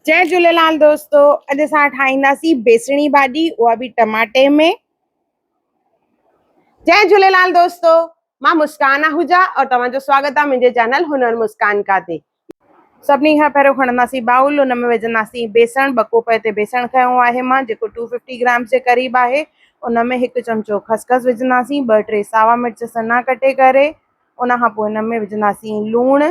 جي جهليلال دوستو اڄ اسان ٺاهينداسين بيسڻي ڀاڄي اها به ٽماٽي ۾ جي جهليلال دوستو مان مسڪان آهوجا اور توهان جو سواگت آ منهنجي چينل هنر مسڪان کا تي سڀني کان پهريون کڻنداسين باؤل ان ۾ وجهنداسين بيسڻ ٻه ڪوپ هتي بيسڻ کنيو آهي مان جيڪو ٽو ففٽي گرامس جي قريب آهي ان ۾ هڪ چمچو خسخس وجهنداسين ٻه ٽي ساوا مرچ سنا ڪٽي ڪري ان کان پوء ان ۾ وجهنداسين لوڻ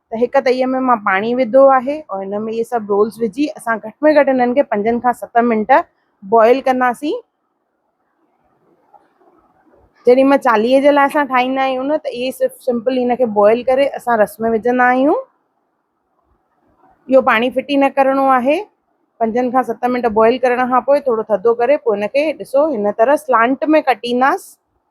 ته هڪ تئيء ۾ مان پاڻي وڌو آهي ۽ ان ۾ اهي سڀ رولز وجهي اسان گهٽ ۾ گهٽ انهن کي پنجن کان ست منٽ بوائل ڪنداسين. جڏهن مان چاليهي جي لاء اسان ٺاهيندا آهيون نه ته اهي صرف سمپل ان کي بوائل ڪري اسان رس ۾ وجهندا آهيون. اهو پاڻي ڦٽي نه ڪرڻو آهي. پنجن کان ست منٽ بوائل ڪرڻ کان پوء ٿورو ٿڌو ڪري پوء ان کي ڏسو هن طرح سلانٽ ۾ ڪٽينداسين.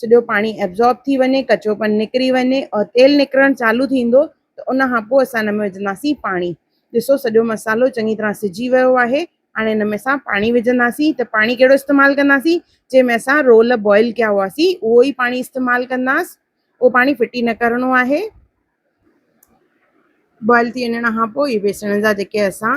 سڄو پاڻي ابزارب ٿي وڃي ڪچو پن نڪري وڃي اور تيل نڪرڻ چالو ٿيندو ته ان کان پوء اسان ان ۾ وجهنداسين پاڻي ڏسو سڄو مصالحو چڱي طرح سجي ويو آهي هاڻي ان ۾ اسان پاڻي وجهنداسين ته پاڻي ڪهڙو استعمال ڪنداسين جنهن ۾ اسان رول بوائل ڪيا هئاسين اهو ئي پاڻي استعمال ڪنداس اهو پاڻي ڦٽي نه ڪرڻو آهي بوائل ٿي وڃڻ کان پوء هي بيسڻ جا جيڪي اسان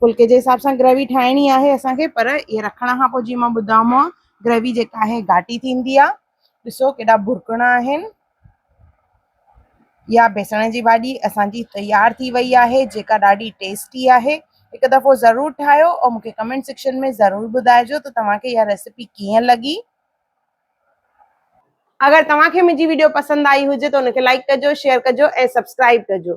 پھلڪي جي حساب سان گريوي ٺاھڻي آھي اسان کي پر اھي رکڻ کان پوء جيئن مان ٻڌامو آ گريوي جيڪا آھي گھاٽي ٿيندي آ ڏسو ڪيڏا ڀرڪڻا آھن يا بيسڻ جي ڀاڄي اسان جي تيار ٿي وئي آھي جيڪا ڏاڍي ٽيسٽي آھي هڪ دفعو ضرور ٺاھيو او مونکي ڪمينٽ سيڪشن ۾ ضرور ٻڌائجو ته توهان کي اها ريسيپي ڪيئن لڳي اگر توهان کي منهنجي ويڊيو پسند آئي هجي ته ان کي لائڪ ڪجو شيئر ڪجو ۽ سبسڪرائب ڪجو